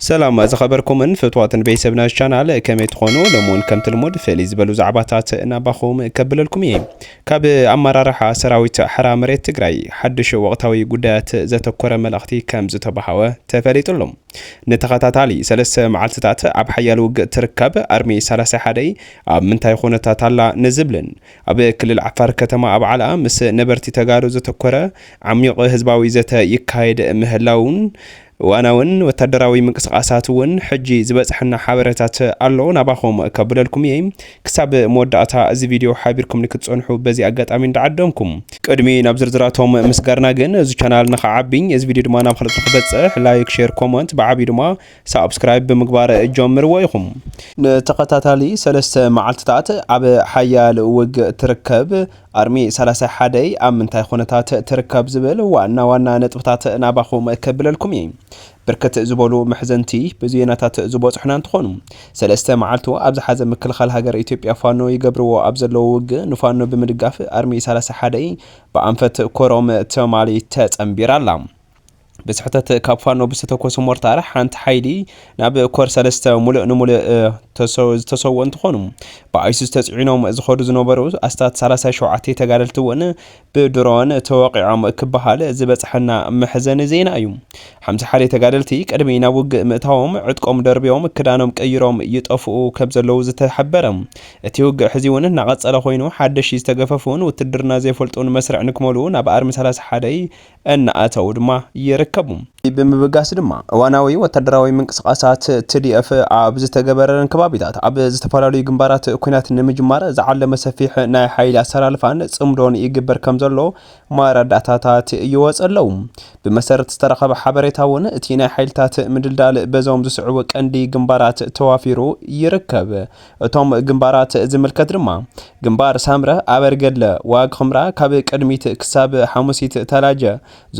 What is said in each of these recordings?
ሰላም ዝኸበርኩምን ፍትዋትን ቤተሰብ ናይዚ ቻናል ከመይ ትኾኑ ሎሚ ውን ከምቲ ልሙድ ፍልይ ዝበሉ ዛዕባታት ናባኹም ከብለልኩም እየ ካብ ኣመራርሓ ሰራዊት ሓራ መሬት ትግራይ ሓዱሽ ወቕታዊ ጉዳያት ዘተኮረ መልእኽቲ ከም ዝተባሃወ ተፈሊጡ ኣሎ ንተኸታታሊ ሰለስተ መዓልትታት ኣብ ሓያል ውግእ ትርከብ ኣርሚ ሰላሳ ሓደ ኣብ ምንታይ ኩነታት ኣላ ንዝብልን ኣብ ክልል ዓፋር ከተማ ኣብ ዓላ ምስ ነበርቲ ተጋሩ ዘተኮረ ዓሚቕ ህዝባዊ ዘተ ይካየድ ምህላውን እዋናውን ወታደራዊ ምንቅስቃሳት እውን ሕጂ ዝበጽሐና ሓበረታት ኣሎ ናባኹም ከብለልኩም እየ ክሳብ መወዳእታ እዚ ቪድዮ ሓቢርኩምኒ ክትጸንሑ በዚ ኣጋጣሚ እንዳዓደምኩ ቅድሚ ናብ ዝርዝራቶም ምስጋርና ግን እዚ ቻናል ንኽዓቢ እዚ ቪድዮ ድማ ናብ ኻልኦት ንኽበጽሕ ላይክ ሼር ኮመንት ብዓብዩ ድማ ሳብስክራይብ ብምግባር ጀምርዎ ኢኹም። ንተኸታታሊ ሰለስተ መዓልትታት ኣብ ሓያል ውግእ ትርከብ። ኣርሚ ሰላሳ ሓደ ኣብ ምንታይ ኹነታት ትርከብ ዝብል ዋና ዋና ነጥብታት ናባኹም ከብለልኩም እየ። ብርክት ዝበሉ መሕዘንቲ ብዜናታት ዝበፅሑና እንትኾኑ ሰለስተ መዓልቱ ኣብ ዝሓዘ ምክልኻል ሃገር ኢትዮጵያ ፋኖ ይገብርዎ ኣብ ዘለዎ ውግእ ንፋኖ ብምድጋፍ ኣርሚ ሰላሳ ሓደ ብኣንፈት ኮሮም ትማሊ ተፀንቢራ ኣላ። ብስሕተት ካብ ፋኖ ብዝተተኮሱ ሞርታር ሓንቲ ሓይሊ ናብ ኮር ሰለስተ ሙሉእ ንሙሉእ ዝተሰዎ እንትኾኑ ብኣይሱስ ተፅዒኖም ዝኸዱ ዝነበሩ ኣስታት 37 ተጋደልቲ እውን ብድሮን ተወቂዖም ክበሃል ዝበፅሐና መሕዘኒ ዜና እዩ። ሓምሳ ሓደ ተጋደልቲ ቅድሚ ናብ ውግእ ምእታዎም ዕጥቆም ደርቢዮም ክዳኖም ቀይሮም ይጠፍኡ ከም ዘለዉ ዝተሓበረ እቲ ውግእ ሕዚ እውን እናቐፀለ ኮይኑ ሓደሽቲ ዝተገፈፉን ውትድርና ዘይፈልጡን መስርዕ ንክመሉ ናብ ኣርሚ 31 እናኣተዉ ድማ ይርከቡ። እዚ ብምብጋስ ድማ እዋናዊ ወታደራዊ ምንቅስቓሳት tdf ኣብ ዝተገበረለን ከባቢታት ኣብ ዝተፈላለዩ ግንባራት ኲናት ንምጅማር ዝዓለመ ሰፊሕ ናይ ሓይሊ ኣሰላልፋን ፅምዶን ይግበር ከምዘሎ መረዳእታታት ይወፅ ኣለዉ። ብመሰረት ዝተረኸበ ሓበሬታ እውን እቲ ናይ ሓይልታት ምድልዳል በዞም ዝስዕቡ ቀንዲ ግንባራት ተዋፊሩ ይርከብ። እቶም ግንባራት ዝምልከት ድማ፣ ግንባር ሳምረ፣ ኣበርገድለ፣ ዋግ ኽምራ፣ ካብ ቅድሚት ክሳብ ሓሙሲት ተላጀ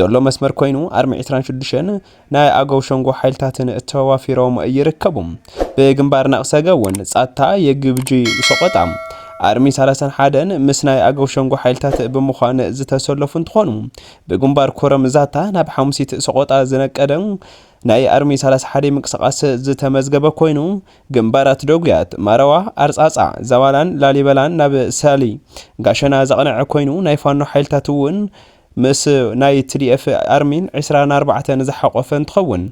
ዘሎ መስመር ኮይኑ፣ ኣርሚ ዕስራን ሽዱሽተን ናይ ኣገው ሸንጎ ሓይልታትን ተዋፊሮም ይርከቡ። ብግንባር ናቕሰገ እውን፣ ጻታ፣ የግብጂ፣ ሰቖጣ፣ ኣርሚ ሰላሳን ሓደን ምስ ናይ ኣገው ሸንጎ ሓይልታት ብምዃን ዝተሰለፉ እንትኾኑ፣ ብግንባር ኮረም ዛታ ናብ ሓሙሲት ሰቖጣ ዝነቀደ ናይ ኣርሚ ሰላሳ ሓደይ ምንቅስቓስ ዝተመዝገበ ኮይኑ፣ ግንባራት ደጉያት ማረዋ፣ ኣርጻጻ፣ ዛባላን ላሊበላን ናብ ሰሊ፣ ጋሸና ዘቕነዐ ኮይኑ፣ ናይ ፋኖ ሓይልታት እውን ምስ ናይ ትዲኤፍ ኣርሚን ዕስራ ን ኣርባዕተን ዝሓቖፈ እንትኸውን፣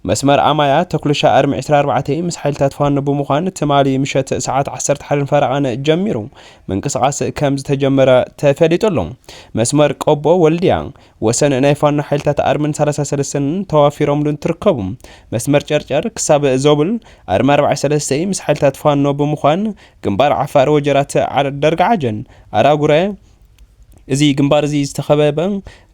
መስመር ኣማያ፣ ተኩልሻ፣ ኣርሚ ዕስራ ኣርባዕተ ምስ ሓይልታት ፋኖ ብምዃን ትማሊ ምሸት ሰዓት ዓሰርተ ሓደን ፈረቓን ጀሚሩ ምንቅስቓስ ከምዝተጀመረ ተፈሊጡ ኣሎ። መስመር ቆቦ፣ ወልድያ፣ ወሰን ናይ ፋኖ ሓይልታት ኣርምን ሰላሳ ሰለስተን ተዋፊሮምሉ እንትርከቡ፣ መስመር ጨርጨር ክሳብ ዞብል ኣርሚ ኣርብዓ ሰለስተይ ምስ ሓይልታት ፋኖ ብምዃን ግንባር ዓፋር ወጀራት ደርጋዓጀን ኣራጉረ እዚ ግንባር እዚ ዝተኸበበ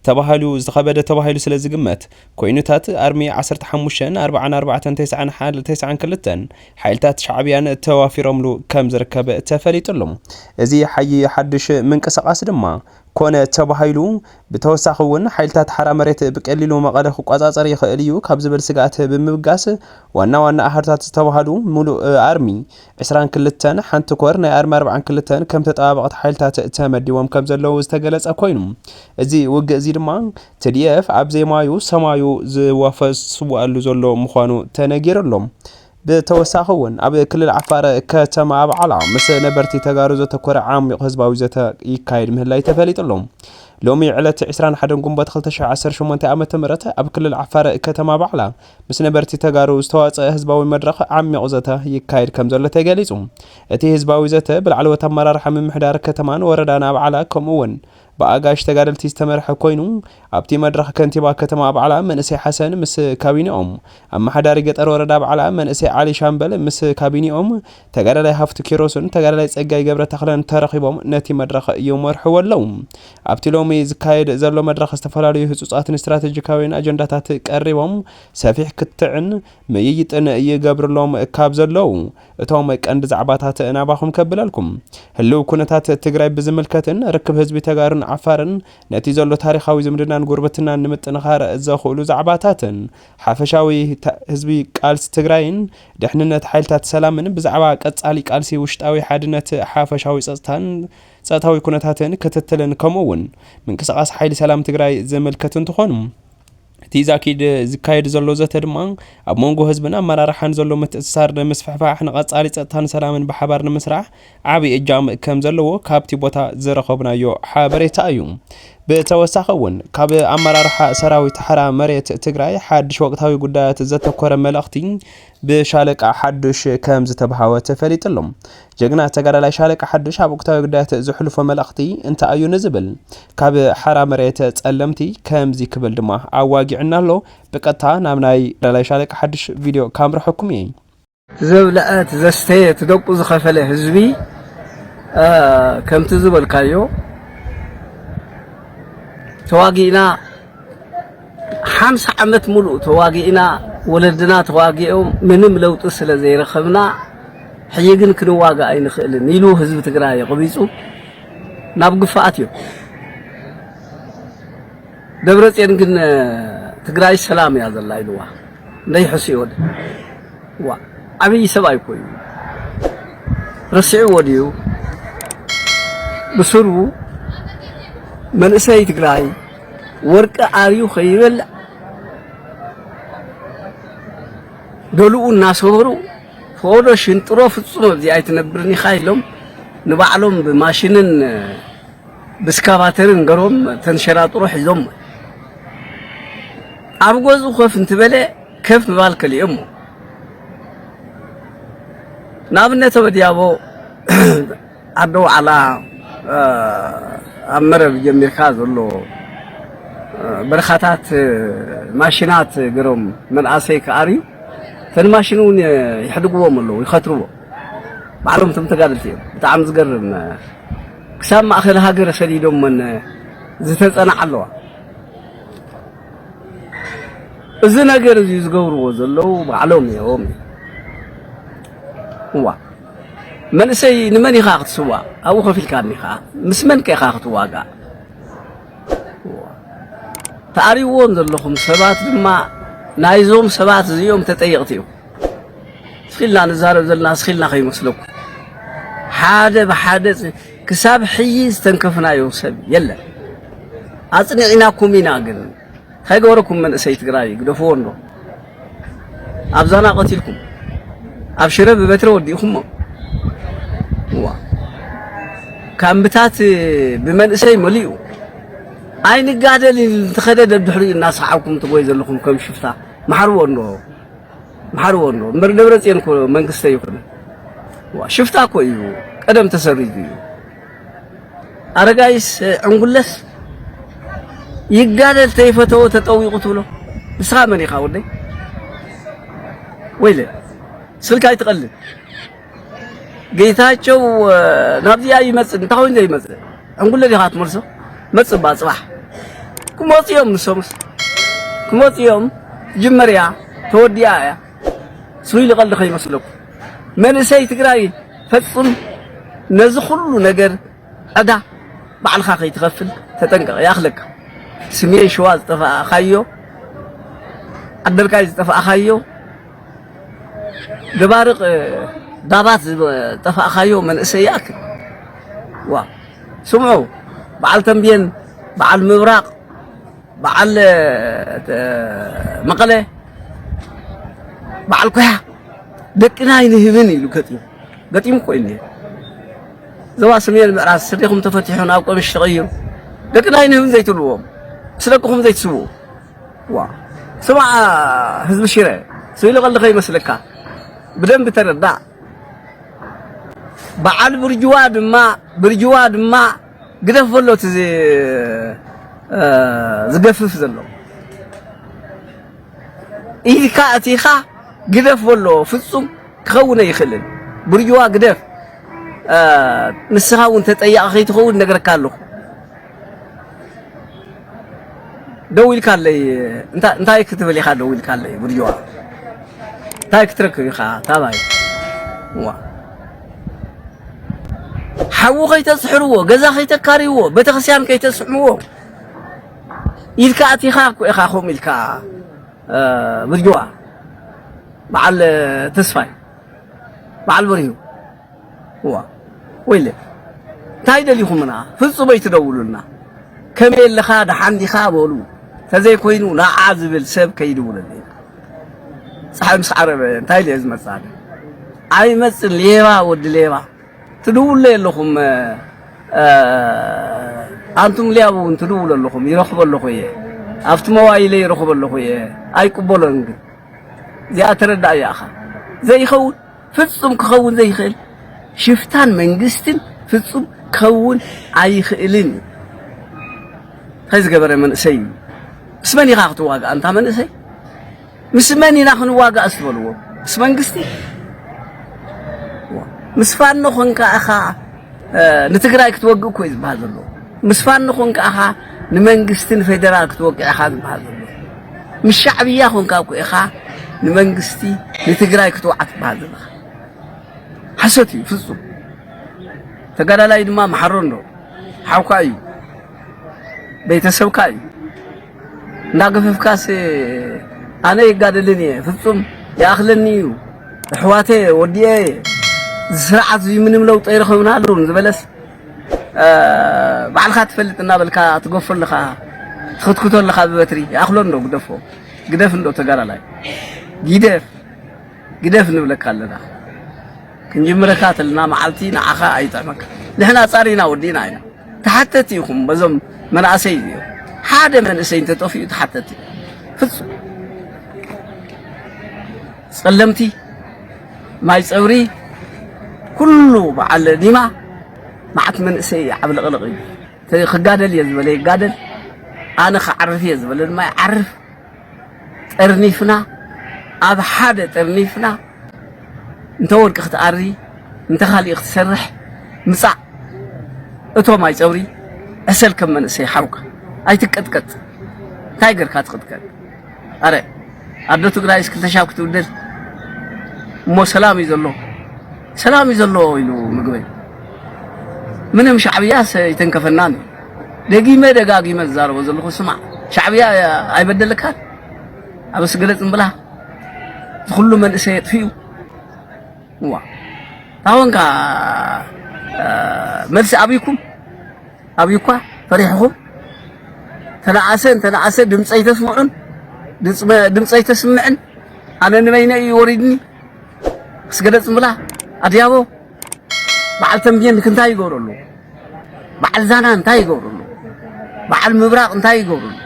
ተባሂሉ ዝተኸበደ ተባሂሉ ስለ ዝግመት ኮይኑታት ኣርሚ ዓሰርተ ሓሙሽተን ኣርብዓን ኣርባዕተን ተስዓን ሓ- ተስዓን ክልተን ሓይልታት ሻዕብያን ተዋፊሮምሉ ከም ዝርከብ ተፈሊጡሉ እዚ ሓይ ሓድሽ ምንቅስቓስ ድማ ኮነ ተባሂሉ ብተወሳኺ እውን ሓይልታት ሓራ መሬት ብቀሊሉ መቐለ ክቆፃፀር ይኽእል እዩ ካብ ዝብል ስግኣት ብምብጋስ ዋና ዋና ኣሃዱታት ዝተብሃሉ ሙሉእ ኣርሚ ዕስራን ክልተን፣ ሓንቲ ኮር ናይ ኣርሚ ኣርብዓን ክልተን ከም ተጠባበቕቲ ሓይልታት ተመዲቦም ከም ዘለዉ ዝተገለፀ ኮይኑ እዚ ውግእ እዚ ድማ tdf ኣብ ዘይማዩ ሰማዩ ዝዋፈ ዝስወኣሉ ዘሎ ምዃኑ ተነጊሩ ኣሎ። ብተወሳኺ እውን ኣብ ክልል ዓፋር ከተማ ኣብዓላ ምስ ነበርቲ ተጋሩ ዘተኮረ ዓሚቕ ህዝባዊ ዘተ ይካየድ ምህላይ ተፈሊጡ ኣሎ። ሎሚ ዕለት 21 ግንቦት 2018 ዓ ም ኣብ ክልል ዓፋር ከተማ ኣብዓላ ምስ ነበርቲ ተጋሩ ዝተዋፀ ህዝባዊ መድረኽ ዓሚቕ ዘተ ይካየድ ከም ዘሎ ተገሊፁ። እቲ ህዝባዊ ዘተ ብላዕለዎት ኣመራርሓ ምምሕዳር ከተማን ወረዳን ኣብዓላ ከምኡ እውን ብኣጋይሽ ተጋደልቲ ዝተመርሐ ኮይኑ፣ ኣብቲ መድረኽ ከንቲባ ከተማ ኣብዓላ መንእሰይ ሓሰን ምስ ካቢኔኦም፣ ኣመሓዳሪ ገጠር ወረዳ ኣብዓላ መንእሰይ ዓሊ ሻምበል ምስ ካቢኔኦም፣ ተጋዳላይ ሃፍቱ ኪሮስን ተጋዳላይ ጸጋይ ገብረተኽለን ተረኺቦም ነቲ መድረኽ ይመርሕዎ ኣለዉ። ኣብቲ ሎሚ ዝካየድ ዘሎ መድረኽ ዝተፈላለዩ ህጹጻትን ስትራተጂካውያን ኣጀንዳታት ቀሪቦም ሰፊሕ ክትዕን ምይይጥን ይገብርሎም ካብ ዘለዉ እቶም ቀንዲ ዛዕባታት ናባኹም ከብለልኩም። ህልው ኩነታት ትግራይ ብዝምልከትን ርክብ ህዝቢ ተጋሩን ዓፋርን ነቲ ዘሎ ታሪኻዊ ዝምድናን ጉርብትናን ንምጥንኻር ዘኽእሉ ዛዕባታትን ሓፈሻዊ ህዝቢ ቃልሲ ትግራይን ድሕንነት ሓይልታት ሰላምን ብዛዕባ ቀፃሊ ቃልሲ ውሽጣዊ ሓድነት ሓፈሻዊ ፀፅታን ፀጥታዊ ኩነታትን ክትትልን ከምኡ እውን ምንቅስቓስ ሓይሊ ሰላም ትግራይ ዝምልከት እንትኾኑ እቲ ዛኪድ ዝካየድ ዘሎ ዘተ ድማ ኣብ መንጎ ህዝብን ኣመራርሓን ዘሎ ምትእስሳር ንምስፍሕፋሕ ንቐጻሊ ጸጥታን ሰላምን ብሓባር ንምስራሕ ዓብዪ እጃም ከም ዘለዎ ካብቲ ቦታ ዝረኸብናዮ ሓበሬታ እዩ። ብተወሳኺ እውን ካብ ኣመራርሓ ሰራዊት ሓራ መሬት ትግራይ ሓድሽ ወቅታዊ ጉዳያት ዘተኮረ መልእኽቲ ብሻለቃ ሓዱሽ ከም ዝተብሃወ ተፈሊጡ ኣሎ። ጀግና ተጋዳላይ ሻለቃ ሓዱሽ ኣብ ወቅታዊ ጉዳያት ዘሕልፎ መልእኽቲ እንታይ ኣዩ ንዝብል ካብ ሓራ መሬት ጸለምቲ ከምዚ ክብል ድማ ኣዋጊዕና ኣሎ። ብቀጥታ ናብ ናይ ተጋዳላይ ሻለቃ ሓዱሽ ቪድዮ ካምርሐኩም እየ። ዘብለዐ ትዘስተየ ትደቁ ዝኸፈለ ህዝቢ ከምቲ ዝበልካዮ ተዋጊእና ሓምሳ ዓመት ሙሉእ ተዋጊእና ወለድና ተዋጊኦም ምንም ለውጢ ስለ ዘይረኸብና ሕጂ ግን ክንዋጋእ ኣይንኽእልን ኢሉ ህዝቢ ትግራይ የቕቢፁ ናብ ግፋኣት እዩ ደብረፅዮን ግን ትግራይ ሰላም እያ ዘላ ኢልዋ እንዳይሕስዮ ወደ ዋ ዓብዪ ሰብ ኣይኮዩ ረሲዕዎ ድዩ ብስሩ መንእሰይ ትግራይ ወርቂ ኣብዩ ከይበልዕ ገሉኡ እናሰበሩ ፈቐዶ ሽንጥሮ ፍጹም ኣብዚ ኣይትነብርን ኢኻ ኢሎም ንባዕሎም ብማሽንን ብስካቫተርን ገሮም ተንሸራጥሮ ሒዞም ኣብ ገዙ ኮፍ እንትበለ ከፍ ምባል ከሊኦሞ ንኣብነት ወዲያቦ ኣዶ ዋዕላ ኣብ መረብ ጀሚርካ ዘሎ በረኻታት ማሽናት ገሮም መንኣሰይ ክኣርዩ እተን ማሽን እውን ይሕድግዎም ኣለዉ ይኸትርዎ ባዕሎም እቶም ተጋደልቲ እዮም ብጣዕሚ ዝገርም ክሳብ ማእኸል ሃገር ሰዲዶመን ዝተፀናዓ ኣለዋ እዚ ነገር እዚ ዝገብርዎ ዘለዉ ባዕሎም እዮም እዋ መንእሰይ ንመን ኢኻ ክትስዋእ ኣብኡ ኮፍ ኢልካ እኒኻ ምስ መን ከ ኢኻ ክትዋጋእ ተኣልይዎም ዘለኹም ሰባት ድማ ናይዞም ሰባት እዚኦም ተጠየቕቲ እዮም ስኺልና ንዛረብ ዘለና ስኺልና ከይመስለኩ ሓደ ብሓደ ክሳብ ሕጂ ዝተንከፍናዮ ሰብ የለን ኣፅኒዕናኩም ኢና ግን ታይ ገበረኩም መንእሰይ ትግራይ ግደፍዎ እንዶ ኣብ ዛና ቀቲልኩም ኣብ ሽረ ብበትሪ ወዲእኩሞ እዋ ካምብታት ብመንእሰይ መሊኡ ኣይንጋደል እንተኸደ ደድሕሪኡ እናሰሓብኩም ትጎይ ዘለኹም ከም ሽፍታ መሓርዎ እንዶ መሓርዎ እንዶ እምበር ደብረፅዮን እኮ መንግስቲ ኣይኮነን ሽፍታ እኮ እዩ ቀደም ተሰሪዙ እዩ ኣረጋይስ ዕንጉለስ ይጋደል ተይፈተዎ ተጠዊቑ ትብሎ ንስኻ መን ኢኻ ወደይ ወይለ ስልካ ኣይትቐልድ ጌታቸው ናብዚ ኣይመፅእ እንታይ ኮይኑ ዘይመፅእ ዕንጉለ ዲኻ ትመልሶ መፅእ እባ ፅባሕ ክመፁ እዮም ንሶምስ ክመፁ እዮም ጅመርያ ተወዲኣ እያ ስሉሊ ቀልዲ ከይመስለኩም መንእሰይ ትግራይ ፈጽም ነዚ ኩሉ ነገር ዕዳ ባዕልኻ ከይትኸፍል ተጠንቀቕ ይኣኽለካ ስሜን ሸዋ ዝጠፋእካዮ ዓደርቃይ ዝጠፋእካዮ ደባርቅ ዳባት ዝጠፋእካዮ መንእሰይ ይኣክል ዋ ስምዑ በዓል ተንቤን በዓል ምብራቕ በዓል መቐለ በዓል ኩያ ደቅና ኣይንህብን ኢሉ ገጢሙ ገጢሙ እኮ እዩ ዞባ ሰሜን ምዕራብ ስርሒኹም ተፈቲሑ ናብ ቀምሽ ተቐይሩ ደቅና ኣይንህብን ዘይትብልዎም ምስ ደቅኹም ዘይትስውኡ ዋ ስማዕ ህዝቢ ሽረ ስኢሉ ቀልዲ ከይመስለካ ብደንቢ ተረዳእ በዓል ብርጅዋ ድማ ብርጅዋ ድማ ግደፍ በሎ እቲ ዝገፍፍ ዘሎ ኢድካ ኣእቲኻ ግደፍ በሎ ፍጹም ክኸውን ኣይኽእልን ብርጅዋ ግደፍ ንስኻ እውን ተጠያቒ ከይትኸውን ነግረካ ኣለኹ ደው ኢልካለይ እንታ እንታይ ክትብል ኢኻ ደው ኢልካለይ ጉድዋ እንታይ ክትረክብ ኢኻ ታባይ ዋ ሓዊ ከይተስሕርዎ ገዛ ከይተካርይዎ ቤተክርስትያን ከይተስሕምዎ ኢልካ ኣቲኻ እኮ ኢኻ ከምኡ ኢልካ ብርጅዋ በዓል ተስፋይ በዓል በሪሁ እዋ ወይለ እንታይ ደሊኹምና ፍጹም ኣይትደውሉልና ከመይ ኣለኻ ደሓን ዲኻ በሉ ተዘይኮይኑ ንዓ ዝብል ሰብ ከይድውለለይ ፀሓይ ምስ ዓረበ እንታይ ኢለ ዝመፅእ ኣይመፅን ሌባ ወዲ ሌባ ትድውሉ የለኹም ኣንቱም ሊያቡ እውን ትድውሉ ኣለኹም ይረኽቦ ኣለኹ እየ ኣብቲ መዋይለ ይረኽቦ ኣለኹ እየ ኣይቅበሎን ግን እዚኣ ተረዳእ እያ እኻ ዘይኸውን ፍጹም ክኸውን ዘይኽእል ሽፍታን መንግስትን ፍጹም ክኸውን ኣይኽእልን እዩ። እንታይ ዝገበረ መንእሰይ እዩ? ምስ መን ኢኻ ክትዋጋእ ኣንታ መንእሰይ? ምስ መን ኢና ክንዋጋእ ስትበልዎ ምስ መንግስቲ ምስ ፋኖ ኮንካ እኻ ንትግራይ ክትወግእ እኮ እዩ ዝበሃል ዘሎ ምስ ፋኖ ኮንካ እኻ ንመንግስቲ ንፌደራል ክትወቅዕ ኢኻ ዝበሃል ዘሎ ምስ ሻዕብያ ኮንካ እኮ ኢኻ ንመንግስቲ ንትግራይ ክትወዓ ትበሃል ዘለኻ ሓሶት እዩ ፍፁም ተጋዳላይ ድማ መሓሮ እንዶ ሓውካ እዩ ቤተሰብካ እዩ እንዳገፈፍካስ ኣነ ይጋደልን እየ ፍፁም ይኣኽለኒ እዩ ኣሕዋተ ወዲኤ ስርዓት እዚ ምንም ለውጢ ኣይረኸብናሉን ዝበለስ ባዕልካ ትፈልጥ እናበልካ ትገፎ ኣለኻ ትኽትክቶ ኣለኻ ብበትሪ ይኣኽሎ እንዶ ግደፎ ግደፍ እንዶ ተጋዳላይ ግደፍ ግደፍ ንብለካ ኣለና ክንጅምረካ ተለና መዓልቲ ንዓኻ ኣይጥዕመካ ንሕና ጻሪና ወዲእና ኢና ተሓተቲ ኢኹም በዞም መናእሰይ እዩ ሓደ መንእሰይ እንተጠፊኡ ተሓተቲ ፍጹም ጸለምቲ ማይ ጸብሪ ኩሉ በዓል ኒማ መዓት መንእሰይ ዓብልቕልቕ እዩ። እቲ ክጋደል እየ ዝበለ ይጋደል፣ ኣነ ክዓርፍ እየ ዝበለ ድማ ይዓርፍ። ጠርኒፍና ኣብ ሓደ ጠርኒፍና እንተ ወርቂ ክትኣሪ እንተ ካሊእ ክትሰርሕ ምጻእ እቶ ማይ ጸብሪ ዕሰል ከም መንእሰይ ሓውካ ኣይትቀጥቀጥ እንታይ ገርካ ትቅጥቀጥ ኣረ ኣዶ ትግራይስ ክልተ ሻብ ክትብድል እሞ ሰላም እዩ ዘሎ ሰላም እዩ ዘሎ ኢሉ ምግበይ ምንም ሻዕብያስ ይተንከፈናን ደጊመ ደጋጊመ ዝዛረቦ ዘለኹ ስማዕ ሻዕብያ ኣይበደልካን ኣብ ስግለጽ እምብላ ዝኹሉ መንእሰይ የጥፍኡ እዋ ታወን ከኣ መልሲ ኣብይኩም ኣብይኳ ፈሪሕኹም ተለኣሰ እንተለኣሰ ድምፂ ኣይተስምዑን ድምፂ ኣይተስምዕን ኣነ ንበይነ እዩ ወሪድኒ ስገደ ፅምብላ ኣድያቦ በዓል ተምቤን እንታይ ይገብሩ ኣለዉ? በዓል ዛና እንታይ ይገብሩ ኣለዉ? በዓል ምብራቕ እንታይ ይገብሩ ኣለዉ?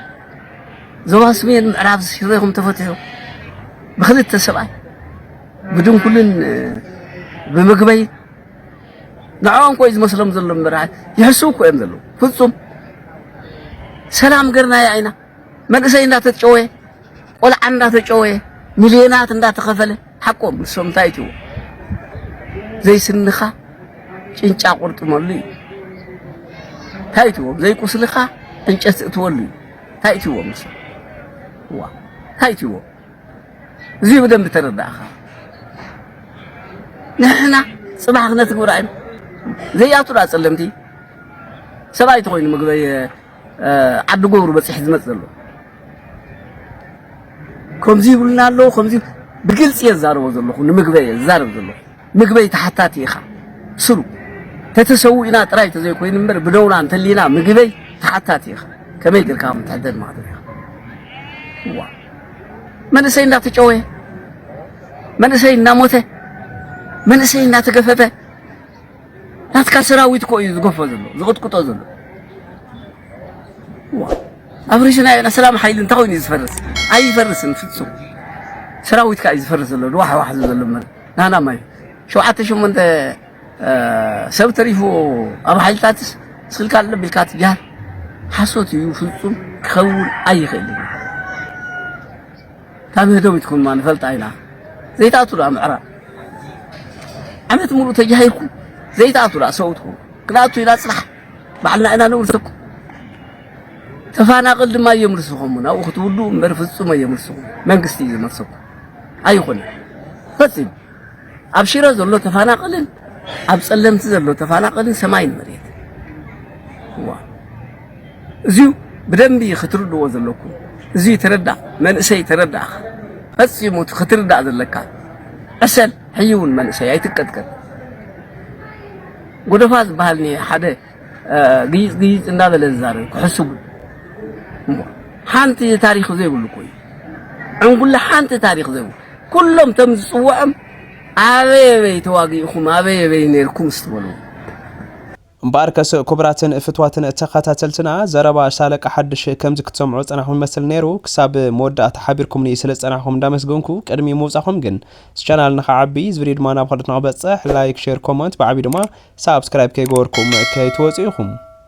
ዞባ ሰሜን ምዕራብ ሽሬኹም ተፈትሑ ብክልተ ሰብኣይ ብድንኩልን ብምግበይ ንዕኦም ኮይ ዝመስሎም ዘሎ እምበር ይሕስቡ እኮ እዮም ዘለዉ። ፍጹም ሰላም ገርናያ ኢና መንእሰይ እንዳተጨወየ ቆልዓ እንዳተጨወየ ሚልዮናት እንዳተኸፈለ ሓቆም ንሶም እንታይ እትዎ ዘይስንኻ ጭንጫ ቁርጥመሉ እዩ እንታይ እትዎም ዘይቁስልኻ ዕንጨት እትወሉ እዩ እንታይ እትዎም ንሶም እንታይ እትዎም እዙይ ብደንቢ ተረዳእኻ ንሕና ፅባሕ ክነትግብራ ኢና ዘይኣቱ ዳ ፀለምቲ ሰብኣይ ተኮይኑ ምግበይ ዓዲ ጎብሩ በፂሕ ዝመፅ ዘሎ ከምዚ ይብሉና ኣለዉ ከምዚ ብግልፂ እየ ዝዛረቦ ዘለኹ ንምግበይ እየ ዝዛረብ ዘለኹ ምግበይ ተሓታቲ ኢኻ ስሩ ተተሰዊእና ጥራይ ተዘይኮይኑ እምበር ብደውና እንተሊና ምግበይ ተሓታቲ ኢኻ ከመይ ጌርካ ከም ትሕደድ ማለት ኢኻ ዋ መንእሰይ እንዳተጨወየ መንእሰይ እንዳሞተ መንእሰይ እንዳተገፈፈ ናትካ ሰራዊት እኮ እዩ ዝገፎ ዘሎ ዝቕጥቅጦ ዘሎ ኣብ ሪጅና ኢና ሰላም ሓይሊ እንታይ ኮይኑ እዩ ዝፈርስ ኣይፈርስን ፍፁም ሰራዊትካ እዩ ዝፈርስ ዘሎ ድዋሕዋሕ ዘሎ ናህና ማይ ሸውዓተ ሸሞንተ ሰብ ተሪፉ ኣብ ሓይልታትስ ስልካ ኣሎ ቢልካ ትጃሃር ሓሶት እዩ ፍጹም ክኸውን ኣይኽእልን ካብ ምህዶም ይትኩን ማ ንፈልጣ ኢና ዘይትኣቱ ደኣ ምዕራብ ዓመት ሙሉእ ተጃሂርኩም ዘይትኣቱ ደኣ ሰውትኩ ክንኣቱ ኢና ፅራሕ ባዕልና ኢና ነውርሰኩ ተፋናቕል ድማ እዮም ርስኹም ናብኡ ክትውሉ እምበር ፍጹም እዮም ርስኹም መንግስቲ እዩ ዝመልሰኩም ኣይኹንን ፈጺሙ ኣብ ሽረ ዘሎ ተፋናቀልን ኣብ ጸለምቲ ዘሎ ተፋናቀልን ሰማይን መሬት ዋ እዚዩ ብደንቢ ክትርድዎ ዘለኩም እዚዩ ተረዳ መንእሰይ ተረዳእኻ ፈጺሙ ክትርዳእ ዘለካ ዕሰል ሕይውን መንእሰይ ኣይትቀጥቀጥ ጎደፋ ዝበሃል ሓደ ግይጽ ግይጽ እንዳበለ ዝዛረብ ክሕስቡ እሞ ሓንቲ ታሪኽ ዘይብሉ እኮ እዩ ዕንጉለ ሓንቲ ታሪኽ ዘይብሉ ኩሎም ተም ዝጽውዖም ኣበይ ኣበይ ተዋጊእኹም ኣበይ ኣበይ ነርኩም ስትበሉ እምበኣርከስ ክቡራትን ፍትዋትን ተኸታተልትና ዘረባ ሻለቃ ሓድሽ ከምዚ ክትሰምዑ ዝጸናሕኩም ይመስል ነይሩ። ክሳብ መወዳእታ ሓቢርኩምኒ ስለ ዝጸናሕኩም እንዳመስገንኩ ቅድሚ ምውጻኹም ግን እዚ ቻናል ንክዓቢ እዚ ቪድዮ ድማ ናብ ካልኦት ንክበፅሕ ላይክ ሼር ኮመንት ብዓብዩ ድማ ሳብስክራይብ ከይገበርኩም ከይትወፅኡ ኢኹም።